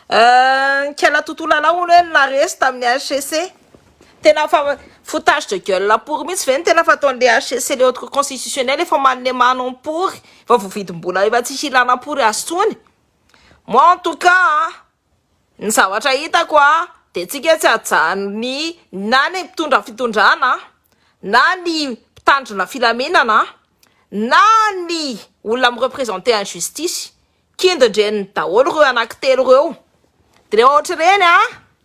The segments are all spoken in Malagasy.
Nikala tontolo anao hono hoe la resy tamin'ny HCC. Tena fa foutage de gueule pory mihitsy ve ny tena fataon'le HCC le haute cour constitutionnelle efa manome mano am pory efa voavidim-bola efa tsy hilana pory azy tsony. Moi en tout cas an, ny zavatra hitako an, de tsika tsy hajanony na ny mpitondra fitondrana an, na ny mpitandrina filaminana an, na ny olona mi representer en justice. kindindreniny daholo ireo anakitelo ireo de rehefa ohatr'ireny a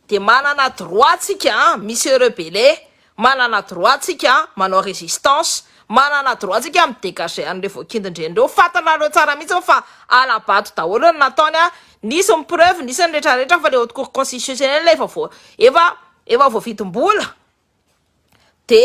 de manana droit tsika a mi se rebeller manana droit tsika manao resistance manana droit tsika mi degager an'ireo voakindindreny ireo fantanareo tsara mihitsy fa hala-bato daholo ny nataony a nisy ny preuve nisy ny rehetra rehetra fa le haute cour constitutionnelle efa voa efa efa voavidim-bola de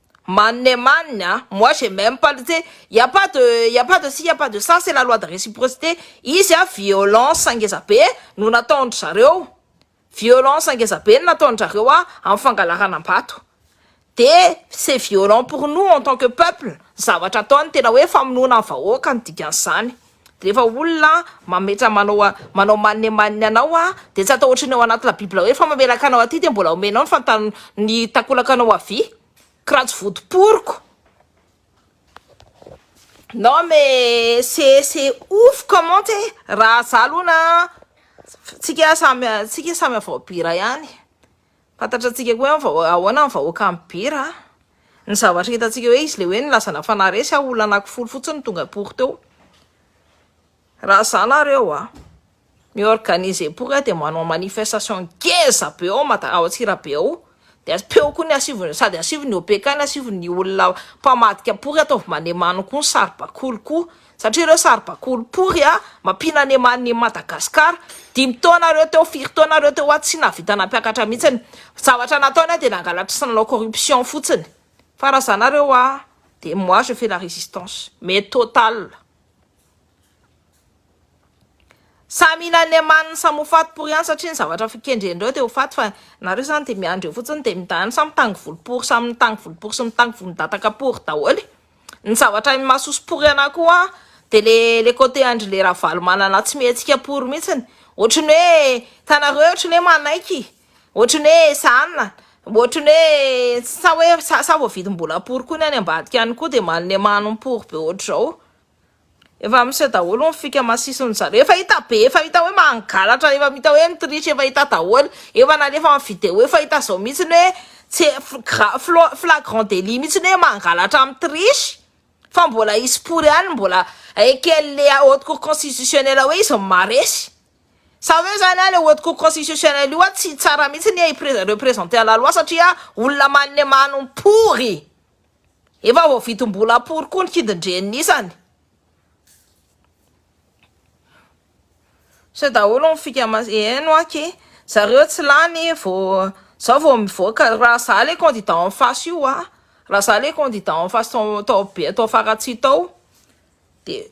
Manne manne a! Moi je n'aime pas le tse, il ya pas de il ya pas de ci il ya pas de ça, c'est la loi de reciprocite, izy a violence ngeza be no nataon-dry zareo, violence ngeza be no nataon-dry-zareo a amin'ny fangalarana am-bato, de c'est violent pour nous en tant que peuple ny zavatra ataony, tena hoe famonoana ny vahoaka no dikan'izany. Rehefa olona mametra manao a manao maninemaniny anao a de tsy atao ohatry ny ao anaty la bible hoe fa mamelaka anao aty de mbola omenao ny fantan ny takolakanao avia kra tsy votoporiko non mais c'est c'est ouf comment e raha za aloha na tsika samy tsika samy avao bira ihany Fantatra tsika koa hoe vao ahoana ny vahoaka any Beira a! Ny zavatra hitantsika hoe izy le hoe nilazana fa na resy aho olona anaky folo fotsiny no tonga pory teo. Raha za nareo a! mi-organiser pory aho de manao manifestation ngeza be ao Mada- ao Antsirabe ao de asipeo koa ny asivon'ny sady asivon'ny OPK ny asivon'ny olona mpamadika pory ataovy manemano koa ny saribakoly koa Satria ireo saribakoly pory a, mampiana ny eman ny Madagascar, dimy taona reo teo, firy taona reo teo a, tsy nahavita nampiakatra mihitsiny, zavatra nataony a de nangalatra sy nanao corruption fotsiny, fa raha za nareo a de moi je fais la résistance, mais totale. Samy hihinan'ny emaniny samy ho faty pory ihany satria ny zavatra kendrendreo de ho faty fa nareo zany de miandry eo fotsiny de mindany samy mitangy volo pory samy mitangy volo pory sy mitangy volondataka pory daholo e. Ny zavatra ainy mahasoso pory anah koa de le le côté andry le ravalomanana tsy mihetsika pory mihitsiny otriny hoe hitanareo otriny hoe manaiky otriny hoe ezahana otriny hoe sa hoe sa sa voavidim-bolam-pory koa ny any ambadika any koa de maha lemano ny pory be otrzao Efa miseho daholo ny fika masisiny zareo efa hita be efa hita hoe mangalatra efa mita hoe ny triche efa hita daholo efa nalefa am video efa hita zao mitsiny hoe tsy gra flo flagrant delit mitsiny hoe mangalatra am triche fa mbola hisy pory any mbola est ce qu'elle est haute cour constitutionnelle hoe izy no maresy sa hoe zany an le haute cour constitutionnelle io an tsy tsara mitsiny i prez representer la loi satria olona malemano pory Efa voavidim bola pory koa ny kidin-dreniny isany. Miseho daholo ny fika mas eny hoa ke zareo tsy lany vao zao vao mivoaka raha za le candidat en face io hoa raha za le candidat en face tao be tao faratsihy tao de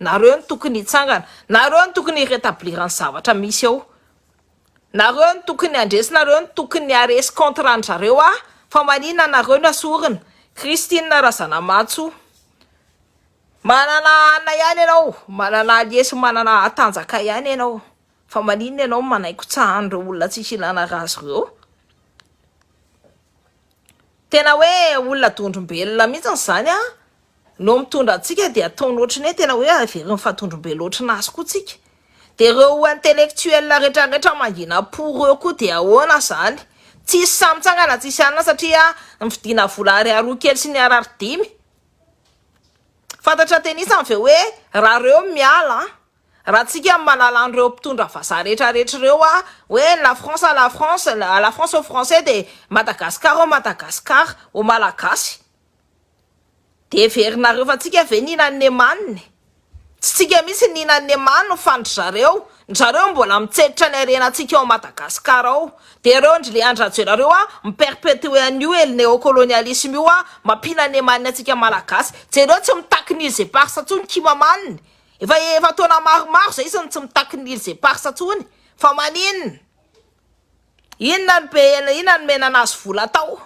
Nareo no tokony hitsangana, nareo no tokony hi retablir ny zavatra misy eo, nareo no tokony handresy, nareo no tokony haresy contre an-dry zareo ah, fa maninona nareo no asorina, Christine Razanamatso, manana anna ihany ianao, manana allier sy manana tanjaka ihany ianao, fa maninona ianao no manaikontsaha an'ireo olona tsisy ilana raha azy ireo, Tena hoe olona dondrombelona mihitsy izany an! no mitondra antsika dia ataony ohatry ny hoe tena hoe averiny fa dondrombelona ohatry ny azy koa tsika. Dia ireo intellectuels retraretra mangina po ireo koa dia ahoana izany? Tsisy sahy mitsangana tsisy anona satria ny vidiana vola ariary ho kely sy ny ariary dimy. Fantatra tenisany ve hoe raha ireo miala an! Raha antsika manala an'ireo mpitondra vazaha rehetra rehetra ireo a, hoe la France à la France, la France aux français dia Madagascar aux Madagascar, aux Malagasy. Dia heverinareo fa tsika ve nihina an'i Nemane? Tsy tsika mihitsy nihina an'i Nemane fa ndry zareo, ndry zareo mbola mitsenitra ny harenantsika ao Madagascar ao. Dia ireo ndry Leandry Rajoelina ireo a, mi-perpetuer an'io el neocolonialisme io a, mampihinana Nemane antsika Malagasy. Jereo tsy mitaky ny Useparsa intsony Kimamane. Efa efa taona maromaro zay izy no tsy mitaky ny îles éparses tsony fa maninona? Inona no be inona no menana azy vola atao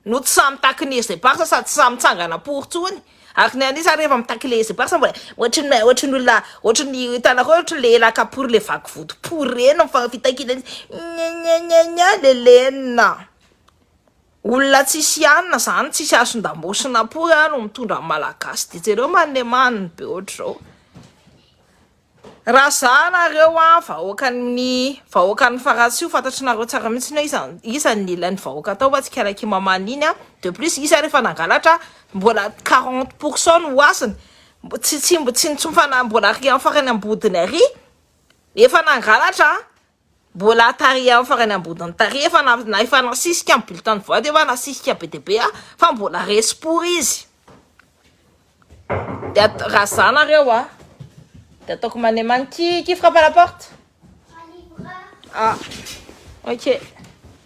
no tsy sahy mitaky ny îles éparses sady tsy sahy mitsangana am-pory tsony ary ny an'isa rehefa mitaky le îles éparses mbola ohatry ny ohatry ny olona ohatry ny hitanareo ohatry le elaka pory le vaky vody pory reny ny fitakiana izy gna gna gna gna le lenina. Olona tsisy ianona zany tsisy asondambosina pory a no mitondra ny malagasy de jereo manemany be ohatr'izao raha za nareo a vahoakan'ny vahoakan'ny faratsiho fantatry nareo tsara mihitsy hoe iza iza ny ilain'ny vahoaka tao fa tsy kalaky mamany iny a de plus izy ary efa nangalatra mbola quarante pour cent no hasiny tsy tsy tsy tsy mbola ary amin'ny farany ambodiny ary efa nangalatra Mbola tarihan'ny farany ambony tariha efa efa nasisika ny bulletin de vote efa nasisika be dia be fa mbola resy pory izy de atao raha za nareo a de ataoko mane man qui qui frappe à la porte ah ok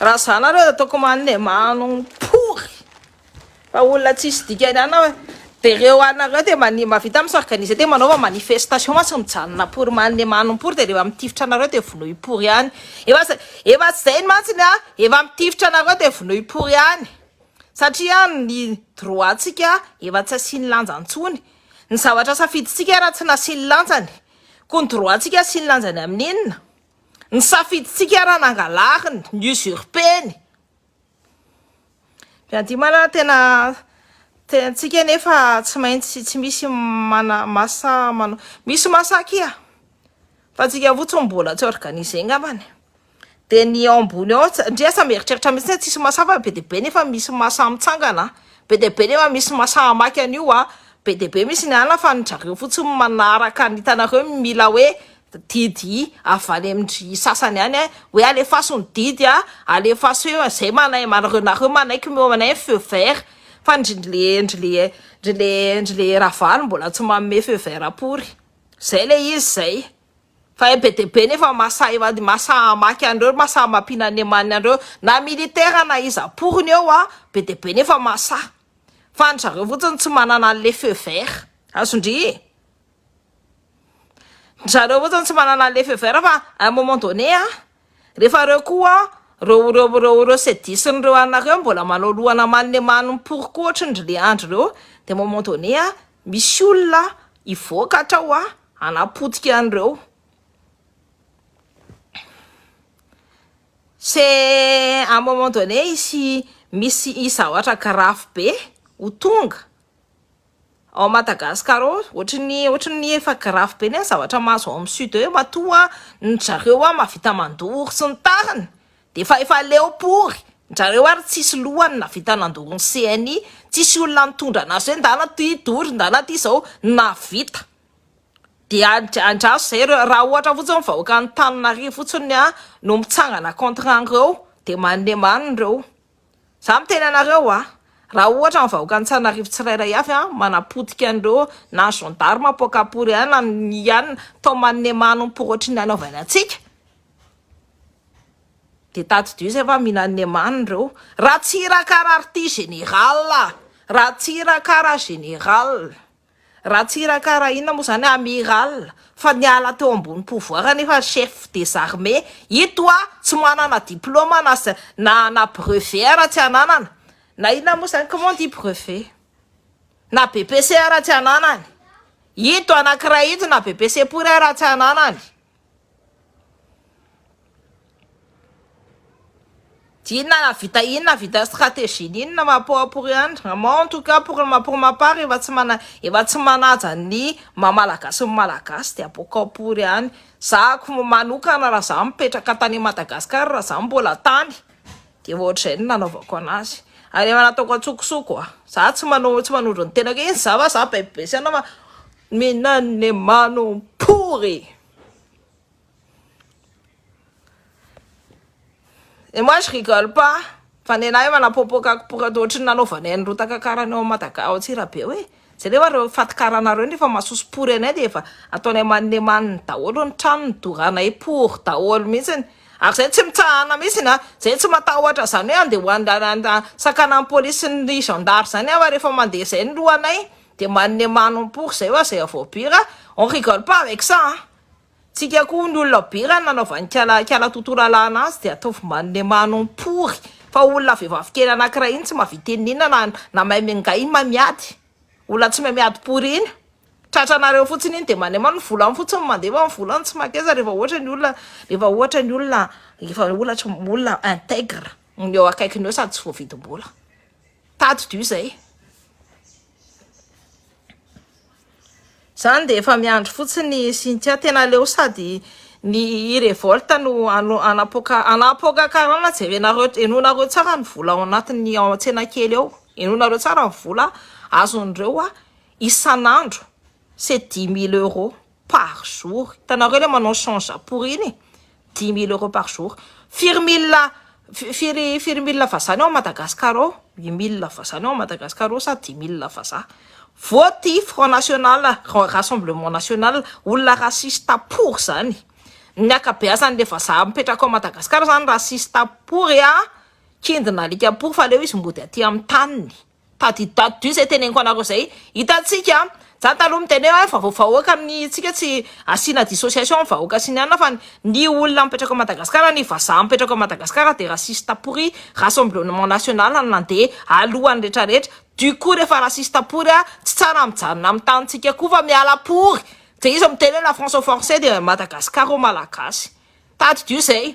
Raha za nareo dia ataoko manne manompory fa olona tsisy dikany ana hoe dia reo anareo dia mani mavita mi s'organiser dia manaova manifestation ma tsy mijanona pory manne manompory dia reo mitifitra anareo dia vonoy pory any efa zay efa tsy zay ny mantsy ny ahy efa mitifitra anareo dia vonoy pory any satria ny droit tsika efa tsy asiany lanja ntsony ny zavatra safiditsika raha tsy nasiany lanjany ko ny droit tsika asiany lanjany amin'inona Ny safidintsika raha nangalariny, ny usurpeny. Fiadimanana tena tiantsika nefa tsy maintsy tsy misy mana masa manao. Misy masa akia fa antsika fotsiny mbola tsy organiser ngambany. Dia ny ao ambony ao ts- ndry aza mieritreritra mihitsy hoe tsisy masa fa be dia be nefa misy masa mitsangana a! Be dia be nefa misy masa hamaky an'io a! Be dia be misy ny anona fa an-dry zareo fotsiny manaraka ny hitanareo mila hoe didy avy any amin-dry sasany any hoe alefaso ny didy a, alefaso eo a, zay manai- manareo nareo manaiky mihoa anay ny feu vert fa ndry le ndry le ndry le ndry le ravalo mbola tsy manome feu vert apory, zay le izy zay fa hay be dia be nefa masahy mad- masahy mamaky an'ireo, masahy mampiana ny emaniny an'ireo na militaire na iza aporony eo a, be dia be nefa masahy fa ndry zareo fotsiny tsy manana an'le feu vert, azon-dry e. Ry zareo fotsiny tsy manana le feu vert fa à un moment donné an, rehefa ireo koa ireo ireo ireo ireo cedisny ireo anona ireo mbola manao lohana manne manim-poroko ohatry ny le andry ireo dia à un moment donné an, misy olona hivoaka hatrao an, hanapotika an'ireo. C'est à un moment donné hisy misy hisy zavatra grave be ho tonga. Ao Madagascar ao ohatran'ny ohatran'ny efa grave be ny zavatra mahazo ao amin'ny sud eo matoa ny drareo a mavita mandoro sy ny tariny de fa efa leo pory ndrareo ary tsisy lohany navita nandoro ny CNI tsisy olona nitondra anazy hoe ndana ty dory ndana ty zao navita de andraso zay reo raha ohatra fotsiny ny vahoaka an'Antananarivo fotsiny a no mitsangana contre an'reo de maneman reo Za miteny anareo a, raha ohatra ny vahoaka Antsanarivo tsirairay avy a manapotika an'ireo na gendarme apoaka pory any na mihianina tao manome manompo ohatry ny nanaovany antsika de tadidio zay fa mila an'le maniny reo, ratsirakara ry ty général a, ratsirakara général. Ratsiraka Raina moa zany amiral fa niala teo ambony pouvoir nefa chef des armées ito a! tsy manana diploma na za na na brevet ara tsy ananana na inona moa zany comment on dit brevet? na BPC ara tsy ananany ito anakiray ito na BPC pory ara tsy ananany. Inona nahavita inona nahavita stratégie ny inona ma pour pour ihany moi en tout cas pour ma pour ma part efa tsy mana efa tsy manaja ny maha malagasy ny malagasy dia pour ka pour ihany za ko manokana raha za mipetraka tany Madagascar raha za mbola tany de efa ohatr'izay no nanaovako anazy ary efa nataoko antsokosoko a za tsy manao tsy manondro ny tenako hoe iza fa za be be saina fa Minan le manom pory. Et moi je rigole pas fa nenahy manapopoka kipoka toa ohatry ny nanaovanay an'i rotaka karany ao madaga ao antsirabe hoe jereo fa reo faty karanareo nefa masoso pory anay dia efa ataonay maninemaniny daholo ny trano ny doranay pory daholo mihitsiny ary zay tsy mitsahana mihitsiny a zay tsy matahotra zany hoe andeha ho an- sakana ny polisy ny zandary zany aho fa rehefa mandeha zay ny lohanay Dia manome manompory zay wa zay avao bira on rigole pas avec ça an! Tsika koa hono olona bira ny nanaovan'ikala ikala Toto lalàna azy dia ataovy manome manompory fa olona vehivavy kely anankiray iny tsy mahavita inona na inona na mahay mingahy iny mahay miady olona tsy mahay miady pory iny tratranareo fotsiny iny dia manema ny volany fotsiny mandefa ny volany tsy makeza rehefa ohatra ny olona rehefa ohatra ny olona rehefa olatra olona intègre ny eo akaikiny eo sady tsy voavidim-bola. Tadidio izay. Izany dia efa miandry fotsiny Cynthia. Tena aleo sady ny revolte no anapoaka anapoaka karana jerenareo enonareo tsara ny vola ao anatin'ny ao an-tsena kely ao. Enonareo tsara ny vola azon'ireo isan'andro c'est dix mille euros. par jour, hitanareo le manao sans japur iny e, dimy mille euros par jour, firy mille firy firy mille vazaha ny ao Madagascar ao, huit mille vazaha ny ao Madagascar ao sa dix mille vazaha, vote i front national rassemblement national, olona raciste pour zany, ny akabeazany le vazaha mipetraka ao Madagascar zany raciste pour a, kindina alika pour fa aleo izy mody aty amin'ny taniny. Tadididado dio zay teneniko anareo zay hitantsika an! Za taloha miteny hoe fa vahoaka ny tsika tsy asiana dissociation ny vahoaka sy ny anona fa ny olona mipetraka ao Madagascar ny vazaha mipetraka ao Madagascar dia raciste pory rassemblement national no nandeha alohan'ny rehetra rehetra du coup rehefa raciste pory an! tsy tsara mijanona amin'ny tanintsika koa fa miala pory dia iza miteny hoe la France au forcé dia Madagascar au malagasy tadidio zay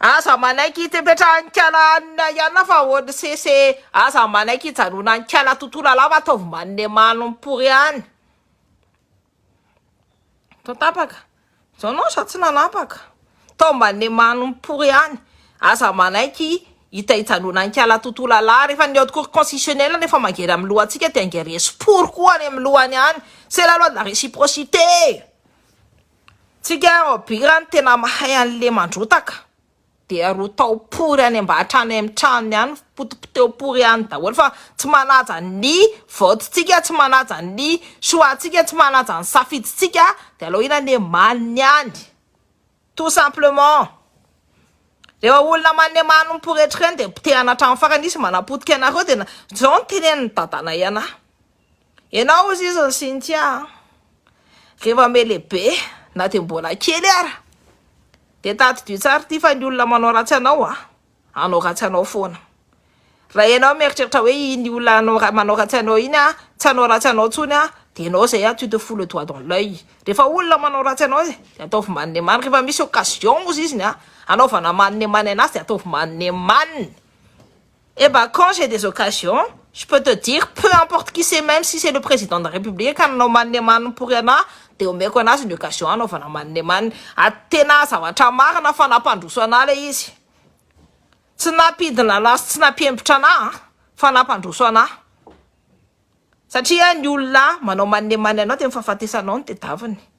Aza manaiky hipetrahan-kala hanina ianona fa onss e! Aza manaiky hijanonan'kala tontolo alava ataovy manne manom pory ihany. Tao tapaka. Zao non za tsy nanapaka. Tao manne manom pory ihany. Aza manaiky hita hijanonan'kala tontolo alava rehefa ny haute cour constitutionnelle no efa mangery amin'ny lohantsika dia ange resy pory koa any amin'ny lohany any. C'est la loi de la réciprocité. Tsika robira no tena mahay anle mandrotaka dia rotao pory any mba hatrany am tranony any potipoteho pory any daholo fa tsy manaja ny vote tsika tsy manaja ny choix tsika tsy manaja ny safidy tsika dia aleo inona anie maniny any tout simplement rehefa olona maniny many ny poretrika any dia potehana hatram farany izy manapotika anareo dia zao no tenenin'ny dadanay anah. Enao ozy izy ny Cynthia a! Rehefa me lehibe na dia mbola kely ara dia tadidio tsara ity fa ny olona manao ratsy anao a! Hanao ratsy anao foana. Raha enao mieritreritra hoe iny olona hanao manao ratsy anao iny a tsy hanao ratsy anao tsony a dia enao zay a tu te fous le doigt dans l'oeil. Rehefa olona manao ratsy anao izy dia ataovy manne manne rehefa misy occasion ozy izy ny a! Hanaovana manne manne anazy dia ataovy manne manne. Eh bah quand j'ai des occasions je peux te dire peu importe qui c'est même si c'est le président de la république ka nanao manne manne pory anah de omeko anazy ny occasion hanaovana manne manne ary tena zavatra marina fa nampandroso anah le izy tsy nampidina anah sy tsy nampiembotra anah an fa nampandroso anah satria ny olona manao manne manne anao de ny fahafatesanao no tedaviny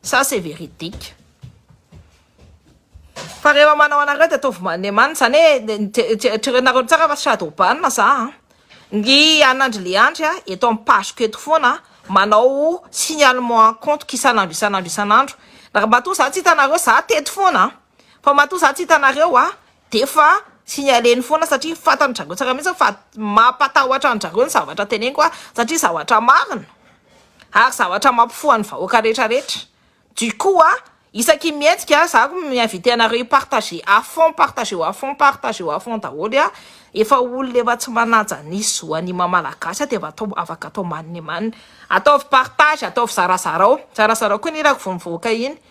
Ça c'est véridique. Fa rehefa manao anareo dia ataovy maneman zany hoe jerenareo tsara fa shadow ban za a! Ny an'Andry Leandry a eto amin'ny page ko eto foana manao signalement en compte ko isan'andro isan'andro isan'andro. Matoa za tsy hitanareo za teto foana a! Fa matoa za tsy hitanareo a! dia efa signaleny foana satria fantan-dry zareo tsara mihitsy fa mampatahotra an-dry zareo ny zavatra teneniko aho satria zavatra marina ary zavatra mampifoha ny vahoaka rehetra rehetra, du coup a, isaky ny mihetsika aho za ko mi-inviter anareo hi-partager à fond, partageo à fond, partageo à fond daholo a, efa olona efa tsy manaja ny zo an'ny maha malagasy aho dia efa atao, afaka atao manimanina, ataovy partage, ataovy zarazarao, zarazarao koa ny hirako vao mivoaka iny.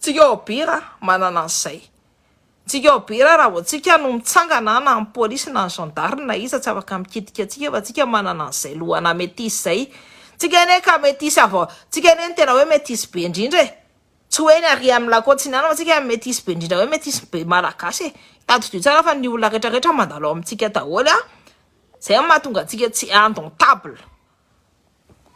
Tsika obira manana an'izay. Tsika obira raha vao tsika no mitsangana na ny polisy na ny zandary na iza tsy afaka mikitika antsika fa tsika manana an'izay lohana metisy izay. Tsika anie ka metisy avy ao, tsika anie no tena hoe metisy be indrindra e. Tsy hoe ny ary amin'ny lakôtsy ny any fa tsika metisy be indrindra hoe metisy be malagasy e. Tadidio tsara fa ny olona retraretra mandalo ao amintsika daholo a. Zay no mahatonga antsika tsy indomptable.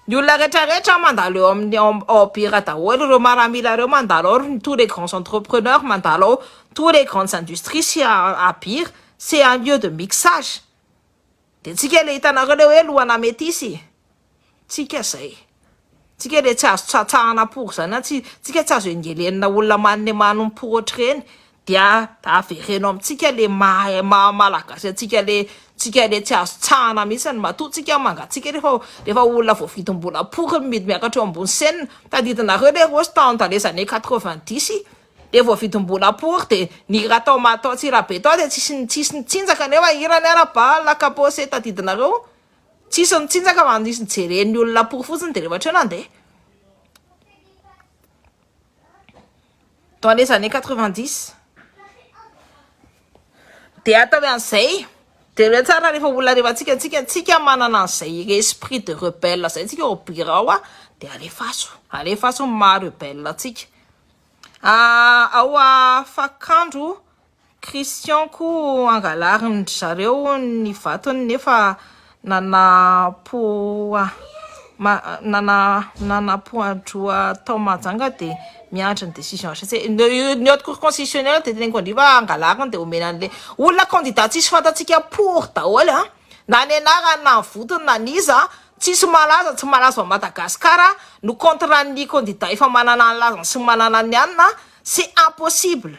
Ny olona rehetra rehetra mandalo eo amin'ny ao ao Bira daholo ireo maramila ireo mandalo ao ry tous les grands entrepreneurs mandalo ao tous les grandes industries sy à Bira c'est un lieu de mixage de antsika le hitanareo le hoe lohana metisy e tsika zay tsika le tsy azo tsatsahana pour zany na tsy tsika tsy azo engelenina olona manome manompo ohatr'ireny Dia avereno amintsika le maha maha malagasy antsika le tsika le tsy azo tsahana mihitsy ny matoa tsika mangatsiaka refa refa olona voavidim bola pory mividy miakatra eo ambony scène tadidinareo le rossy tao dans les années quatre vingt dix le voavidim bola pory de ny hira tao ma tao tsirabe tao de tsisy tsisy nitsinjaka nefa hirany ara bal la kapose tadidinareo tsisy nitsinjaka fa nisy nijeren'ny olona pory fotsiny de refa hatreo nandeha. dans les années quatre vingt dix dia atao hoe an'izay dia ireo tsara rehefa olona rehefa tsika tsika tsika manana an'izay esprit de rebelle izay tsika ao birao a dia alefaso alefaso ny maha rebelle antsika ah, ao afakandro Christian koa angalarin dry zareo ny vatony nefa nanapoa nanapoadroa tao Mahajanga dia miandry ny décision HCC ny haute cour constitutionnelle dia teneniko an-dry fa angalariny dia omena anle olona candidat tsisy fantatsika pour daholo an na ny anarany na ny votony na ny iza an tsisy malaza tsy malaza ao Madagascar no contre ny candidat efa manana ny lazany sy ny manana ny anina c'est impossible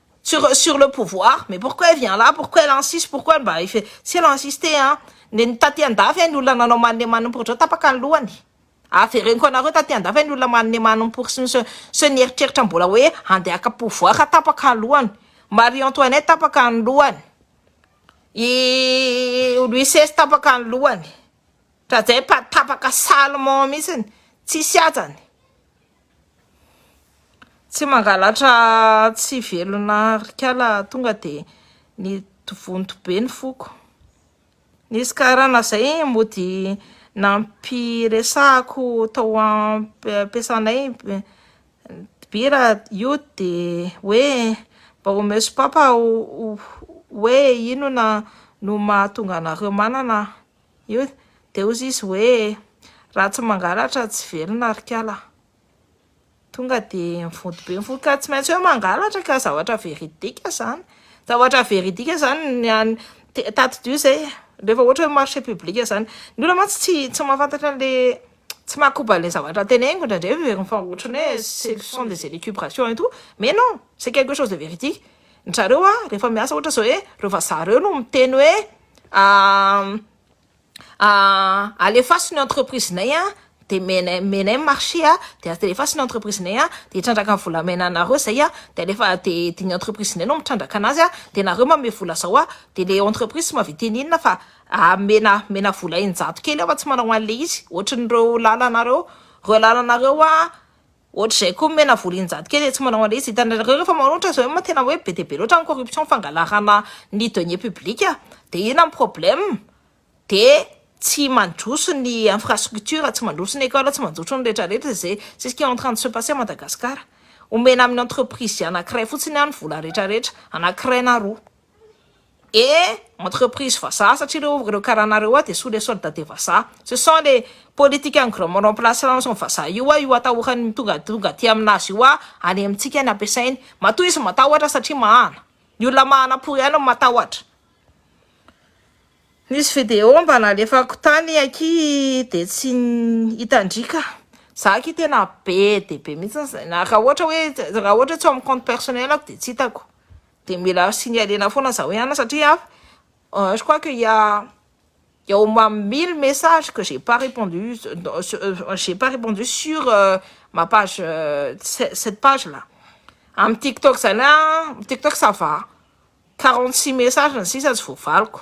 Sur sur le pouvoir, mais pourquoi elle vient là, pourquoi elle insiste, pourquoi elle mba efa tsy ela insister hein, nen'ny taty andafy hein ny olona nanao manne manne pour ohatr'izao tapaka ny lohany, avereniko anareo taty andafy hein ny olona manne manne pour sy ny sy sy ny nieritreritra mbola hoe handeha haka pouvoir ka tapaka ny lohany, Marie Antoinette tapaka ny lohany, i Louis seize tapaka ny lohany, Ndrajaipa tapaka salement mihitsiny, tsisy hajany. Tsy mangalatra tsy velona ry kala tonga de ny vonto be ny foko. Nisy karana zay mody nampiresahako tao am-piasanay mpibira io de hoe mba omeo sopapa hoe inona no mahatonga anareo manana. Io dia hozy izy hoe, raha tsy mangalatra tsy velona ry kala. Tonga dia mivonto be ny fo, ka tsy maintsy hoe mangalatra ka zavatra veridika izany. Zavatra veridika izany ny any te- tatidio izay e, rehefa ohatra hoe marché public izany. Ny olona mantsy tsy tsy mahafantatra an'ilay tsy mahakoba an'ilay zavatra teneniko indraindray hoe, fa ohatran'ny hoe ce sont des élucubrations et tout, mais non, c'est quelque chose de véridique. Njareo a rehefa miasa ohatra zao hoe reo vazaha reo no miteny hoe alefaso ny entreprise nay a de menay menay ny marché a de alefaso ny entreprise nay a de hitrandraka ny volamena anareo zay a de alefa de de ny entreprise nay no mitrandraka anazy a de nareo manome vola zao a de le entreprise tsy mahavita eny inona fa amena mena vola eninjato kely aho fa tsy manao an'le izy ohatrin'ireo lalanareo reo lalanareo a. Ohatr'izay koa ny menavolo injato kely etsy manao an'ilay izy. Hitanareo rehefa manoatra izao hoe tena hoe be dia be loatra ny corruption fangalarana ny deniers publics dia inona ny problème? Dia tsy mandroso ny infrastructure, tsy mandroso ny école, tsy manjotro ny rehetra rehetra izay c'est ce qui est en train de se passer à Madagascar. Omena amin'ny entreprise anankiray fotsiny ny vola rehetra rehetra, anankiray na roa. et entreprise vazaha satria ireo ireo karana ireo dia sous les soldes des vazaha, ce sont les politiciens grands remplaçants ao ny vazaha io io atahorany tonga tonga aty amin'azy io any amintsika any ampiasainy, matoa izy matahotra satria mahana, ny olona mahana pory ihany no matahotra. Nisy video mba nalefako tany aky dia tsy hitan-dry ka, za aky tena be dia be mihintsy izay, raha ohatra hoe raha ohatra tsy ao amin'ny compte personnel-ko dia tsy hitako. dia mila signaler-na foana za hoe ana satria an je crois que il ya il ya au moins mille messages que j'ai pas repondu j'ai pas repondu sur ma page cette page là amin'ny tiktok zany an tiktok ça va quarante six messages ny sisa tsy voavaliko.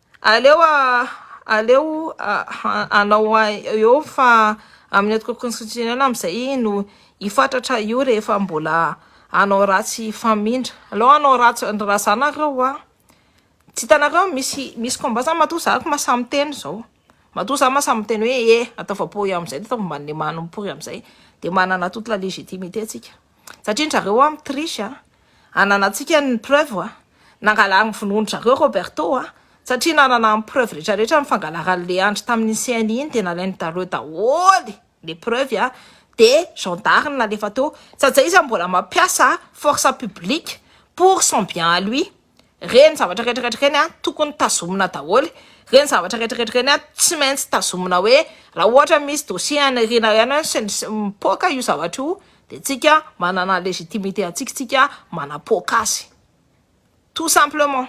Aleo aleo anao eo fa amin'ny antoko konstitisionela amin'izay no hifatratra io rehefa mbola anao ratsy hifamindra. Aleo anao ratsy ny razanareo hoa. Tsy hitanareo misy misy combat zany matoa za ko masahy miteny zao matoa za masahy miteny hoe eh atao vapoy amin'izay de ataovy manimany mipory amin'izay de manana toute la légitimité tsika satria ndry zareo hoa mi-triche a. Ananantsika ny preuve a! Nangalariny vonoan-dry zareo Roberto a! Satria nanana ny preuve retraretra ny fangalaran'i Leandry tamin'iny CNI iny dia nalain'i Daleo daholo le preuve a! De gendarme nalefa teo satsia izy mbola mampiasa force publique pour son bien à lui. Ireny zavatra rehetrarehetra ireny an, tokony tazomina daholo, ireny zavatra rehetrarehetra ireny an, tsy maintsy tazomina hoe raha ohatra misy dossier any aoriana ihany hoe sy ny sisa, mipoaka io zavatra io dia tsika manana légitimité antsika tsika manapoaka azy, tout simplement.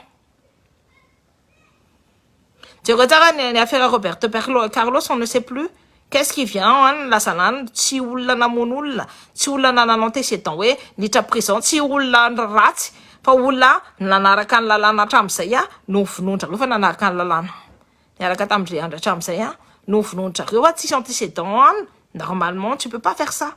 Jereo tsara ny ny afera Roberto Perlo Carlos on ne sait plus qu'est ce qui vient en any lasa lany tsy olona namono olona tsy olona nanana antécédent hoe niditra prison tsy olona ratsy fa olona nanaraka ny lalàna hatramin'izay a no novonoin-dry zareo fa nanaraka ny lalàna niaraka tamin-dry andry hatramin'izay a no novonoin-dry zareo fa tsisy antécédent any normalement tu peux pas faire ça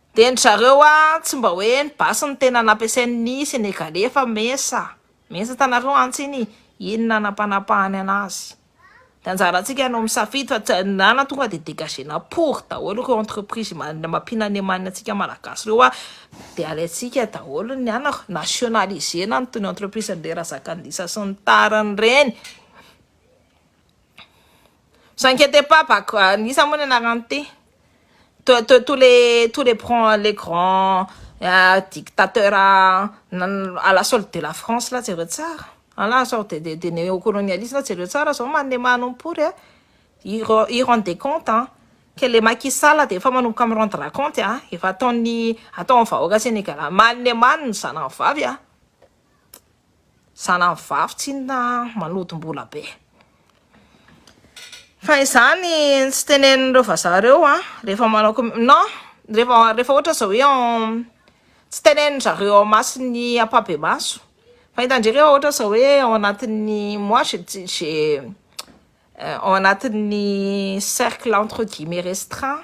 Dia ny zareo a tsy mba hoe ny basy no tena nampiasain ny senegalais fa mesa mesa hitanareo antsy iny iny nanapanapahany anazy dia anjarantsika no misafidy fa tsy na na tonga dia dégagé na pory daholo ireo entreprise mampinaniamanina antsika malagasy ireo a dia alaintsika daholo ny anona nationalisé na ny toy ny entreprise an'i Razakandisa sy ny tariny ireny vous inquiétez pas Bakoindisa moa ny anarany ity. Tous tous les tous les grands les grands dictateurs à la solde de la France là jereo tsara à la sorte de de néocolonialisme là jereo tsara zao manome manompo pory a ils ren ils rendent des comptes an! que le Macky Sall dia efa manomboka mi rendre compte an! efa ataon'ny ataon'ny vahoaka Sénégal manome mano ny zanany vavy an! Zanany vavy tsinona manodim-bola be. Fa izany tsy tenenin'ireo vazaha ireo an, rehefa manao com non rehefa rehefa ohatra zao hoe tsy tenenin-dry zareo ao imason'ny ampahibemaso fa hita ndray rehefa ohatra zao hoe ao anatin'ny moi je ti- je ao anatin'ny cercle entre guillemets restreint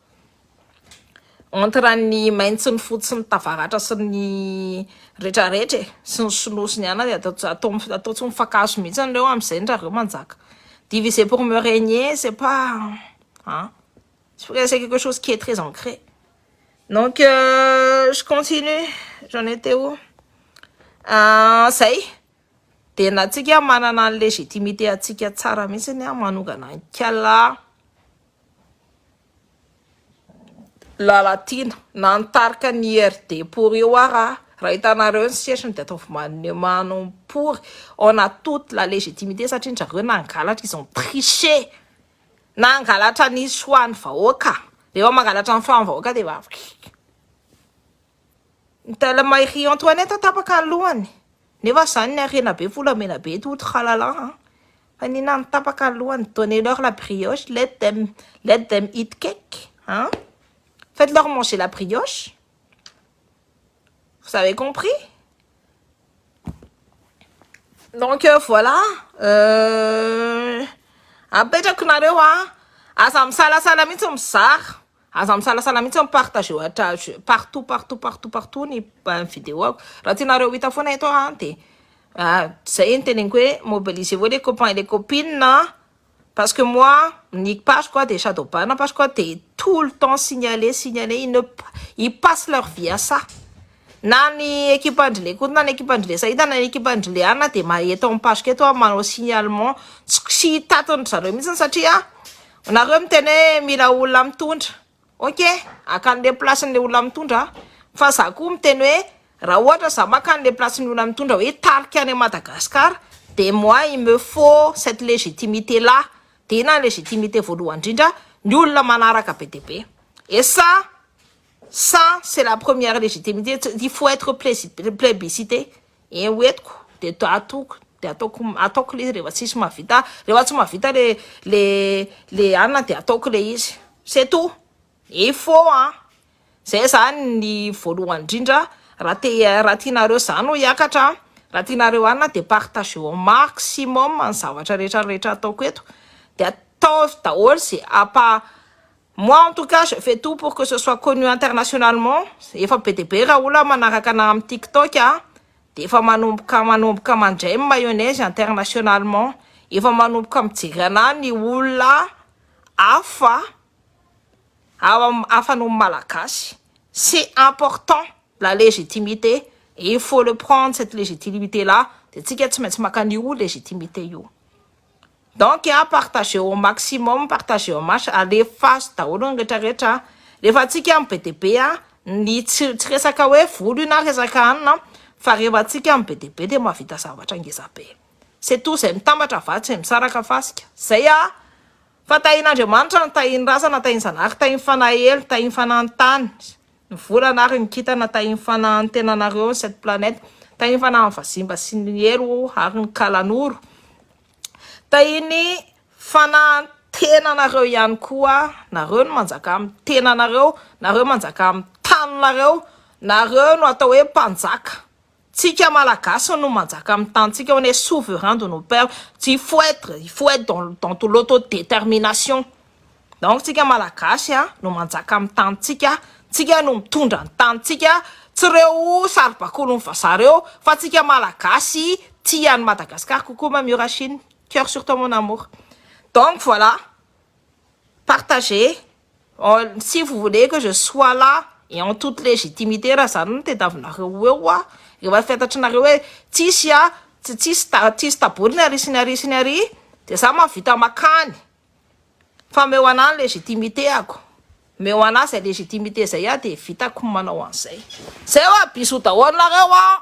Entre ny maintsy ny fotsy ny tavaratra sy ny rehetra rehetra e sy ny sinoa sy ny ana dia atao atao atao tsy mifankahazo mihitsy anareo amin'izay ny rareo manjaka diviser pour me régner c'est pas an tsy hoe c'est quelque chose qui est très ancré donc euh, je continue j'en étais où ah, zay dia na tsika manana ny légitimité antsika tsara mihitsy ny manongana ny kala Lalatiana, na ny tarika ny IRD pour io ara, raha hitanareo ny setriny dia ataovy manemano ny pour, on a toute la légitimité satria njareo nangalatra, ils ont triché, nangalatra ny choix ny vahoaka, rehefa mangalatra ny choix ny vahoaka dia efa, ny tellement i Ry Antoinette tapaka ny lohany. Nefa zany ny harena be volamena be eto out halalah an! Fa ny inona no tapaka alohany? Donnez leur la brioche, let them let them eat cake an! Faites leur manger la brioche! Vous avez compris? Donc voilà apetrako nareo an! Aza misalasala mihitsy mizara. Aza misalasala mihitsy mi partager ohatr'azy partout partout partout partout ny videoako raha tianareo ho hita foana eto aho dia zay ny teneniko hoe mobiliser vous les copains et les copines an parce que moi ny page-ko aho dia Shadow Bana page-ko aho dia tout le temps signaler signaler ils ne ils passent leur vie à ça na ny ekipan-dry Lekoto na ny ekipan-dry Lesaida na ny ekipan-dry Leana dia mahay eto amin'ny page-ko eto aho manao signalement tsy tsy hitatiny ry zareo mihitsy satria Nareo miteny hoe mila olona mitondra, ok haka anle place nle olona mitondra aho, fa za koa miteny hoe raha ohatra za maka anle place ny olona mitondra hoe tarika any Madagascar de moi il me faut cette légitimité là, de inona ny légitimité voalohany indrindra, ny olona manaraka be dia be, et ça ça c'est la première légitimité, il faut etre plebiscité. Eo etiko de atoko de ataoko ataoko le izy rehefa tsisy mavita rehefa tsy mavita le le le anina de ataoko le izy c'est tout il faut an zay zany ny voalohany indrindra raha te raha tianareo zany ho hiakatra raha tianareo anina de partageo au maximum ny zavatra rehetra rehetra ataoko eto de ataovy daholo ze apa Moi en tout cas je fais tout pour que ce soit connu internationalement, efa be dia be raha olona manaraka anah amin'ny tiktok a, dia efa manomboka manomboka mandray ny mayonnaise internationalement, efa manomboka mijery anah ny olona hafa ao am hafa noho ny malagasy, c'est important la légitimité et il faut le prendre cette légitimité là, dia tsika tsy maintsy maka an'io légitimité io. Donc a partager au maximum, partager au max, alefaso daholo ny rehetra rehetra a, rehefa antsika no be dia be a, ny tsy tsy resaka hoe vola io na resaka hanina a, fa rehefa antsika no be dia be dia mahavita zavatra ngeza be, c'est tout, zay mitambatra vary tsy misaraka fasika, zay a, fa tahin'Andriamanitra no tahin'ny razana, tahin'ny zanahary, tahin'ny fanahy helo, tahin'ny fanahin'ny tany. Ny volana ary ny kintana tahian'ny fanahantenanareo ny sept planètes, tahian'ny fanahan'ny vazimba sy ny helo ary ny kalanoro, tahian'ny fanahantenanareo ihany koa, nareo no manjaka amin'ny tenanareo, nareo manjaka amin'ny taninareo, nareo no atao hoe mpanjaka Tsika malagasy no manjaka amin'ny tanintsika, on est souverain de nos père, il faut être, il faut être dans le, dans de l'auto détermination, donc tsika malagasy a, no manjaka amin'ny tanintsika, tsika no mitondra ny tanintsika, tsy ireo saribakolon'ny vazaha ireo, fa tsika malagasy tia an'i Madagascar kokoa Mamie Rachine, coeur sur toi mon amour, donc voilà, partagez. En si vous voulez que je sois là et en toute légitimité raha zany no tediavinareo ho eo aho rehefa fantatrinareo hoe tsisy a, tsy tsisy ta, tsisy taboriny ary sy ny ary sy ny ary dia za mahavita makany fa meo anah ny légitimité ako, meo anah zay légitimité zay aho dia vitako ny manao an'izay. Zay hoa bisous daholo nareo an!